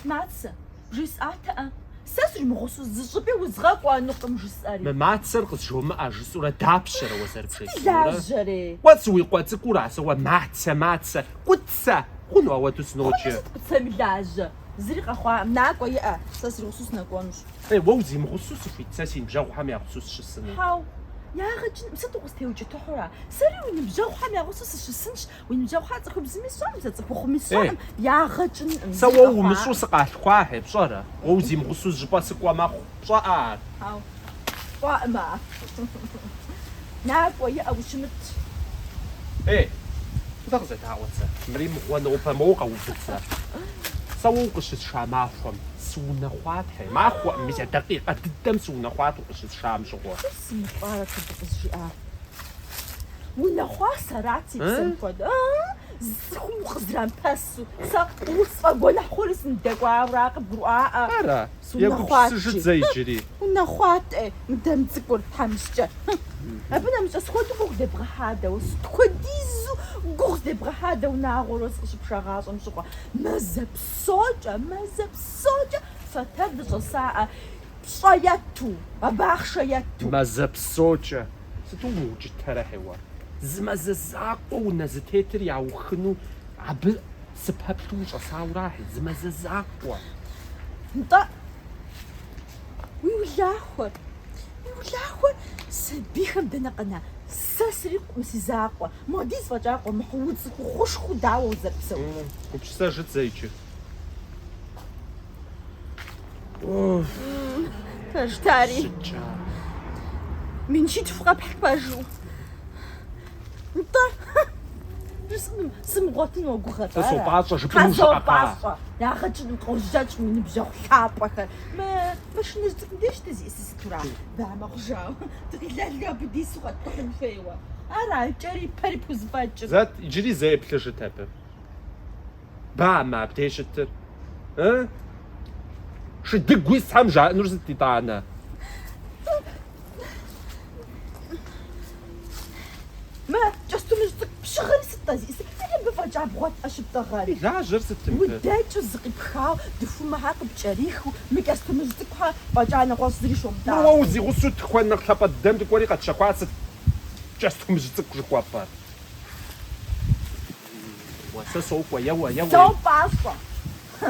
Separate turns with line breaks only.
Мацэ, бжесӏатэӏэ, сэ сримыгъусу зы щӏыпӏи узгъэкӏуэнукъым жысӏэри. Мы мацэр
къызжумыӏэ жысӏурэ дапщэрэ уэ зэрыбжесӏэнур? Лажьэрей.
Уэ
сыуикъуэ цӏыкӏура сэ уэ мацэ, мацэ, кӏуцэ хъуну ауэду сыноджэ. Хъуну сыт кӏуцэми лажьэ.
Зыри къэхъуакъым, накӏуэ иӏэ, сэ сригъусэу сынэкӏуэнущ. Е, уэ
узимыгъусэу сыхуейт, сэ си ныбжьэгъухэм ягъусэу сыщысыну. Хьэу,
ягъэ кӏынкъым, сыт укъыстеукӏытыхьу ара? Сэри уи ныбжьэгъухэм ягъусэу сыщысынщ, уи ныбжьэгъухэр цӏыхубзми сщӏэркъым, сэ цӏыхухъуми сщӏэркъым, ягъэ кӏынкъым. Сэ уэ умыщӏу
сыкъалъхуахьи, пщӏэрэ? Уэ узимыгъусэу зыщӏыпӏэ сыкӏуэ мэхъу, пщӏэӏэ ар? Хьэу.
Кӏуаӏмэ, накӏуэ, иӏэ ущымыт.
Ей, зэ къызэдаӏуэт сэ. Мыри мыгъуэ нобэ моуэ къэувыт сэ. Сэ уэ укъыщысша махуэм сыунэхъуатэ, махуэӏым, мис а дакъикъэ дыдэм сыунэхъуат укъыщысшам щыгъуэ. Сэ сымыщӏарэ
сыт къызжиӏар? Унэхъуа сэрат си псэм хуэдэ, ыы? Зы цӏыхум укъызрамыпэсу, сэ усфӏэгуэныхь хъури сындэкӏуауэ ара къыбгурыӏуаӏэ? Ара?
Егупсысыжыт
зэ
иджыри.
Унэхъуатӏэ, мыдэм цӏыкӏур, тхьэмыщкӏэ. Абы нэмыщӏкӏэ сыт хуэдэу гугъу дебгъэхьа дэ уэ, сыт хуэдизу гугъу дебгъэхьа дэ унагъуэр уэ сыкъыщыпшагъащӏэм щыгъуэ. Мазэ псокӏэ, мазэ псокӏэ фэтэр дыщӏэсаӏэ, пщӏэ етту, абы ахъшэ етту. Мазэ псокӏэ,
сыту умыукӏытэрэ хьеуэ, зы мазэ закъуэ унэ зэтетыр яухыну абы Сыпэплъу ущӏэсауэ арахьи, зы мазэ закъуэ?
Нтӏэ, уи улахуэр, уи улахуэр сабийхэм дэнэ къэна? Сэ срикъукъым си закъуэ. Молодец фӏэкӏа къуэмыхьу, уцӏыхухъушхуэу дауэ узэрыпсэур? Гупсысэжыт
зэ
иджы. Пэжт ари. Сыткӏа? Мин щитху къэпхь пэжу. Нтӏэ, сымыгъуэтын уэгугъэрэ? Сэ сопӏащӏэ
жыпӏэну щыӏэкъэ? Ягъэ
кӏын къожьэкӏэ уи ныбжьэгъу лъапӏэхэр. Мы машинэжь цӏыкӏум деж дызиӏэсыр сытура? Бамэ хъужауэ, дыкъилэлгэ абы дису къэткӏухьын хуейуэ. Ара, кӏэри пэри пхузэфӏэкӏыр? Зэт, иджыри
зэ еплъыжыт абы. Бамэ абдей щытыр? Шыдыгу исхэм жаӏэнур сыт итӏанэ?
Мэ, кӏэстумыжь цӏыкӏу пщыгъыр сыт-тӏэ зи? Сыт зи мыбы фӏэкӏа бгъуэтӏэ щыптӏагъэр? Лажьэр сытым пэ?
Удэкӏыу зыкъипхауэ,
дыхумэхэр къыпкӏэрихыу, мы кӏэстумыжь цӏыкӏухэр фӏэкӏа нэгъуэщӏ зыри щомытӏагъэ. Мыр уэ узигъусэу
тыкуэн нэхъ лъапӏэ дыдэм дыкӏуэри къэтщэхуар сыт кӏэстумыжь цӏыкӏу жыхуэпӏэр? Уэ сэ сокӏуэ, еуэ, еуэ. Сэ пӏащӏэ.
Хы!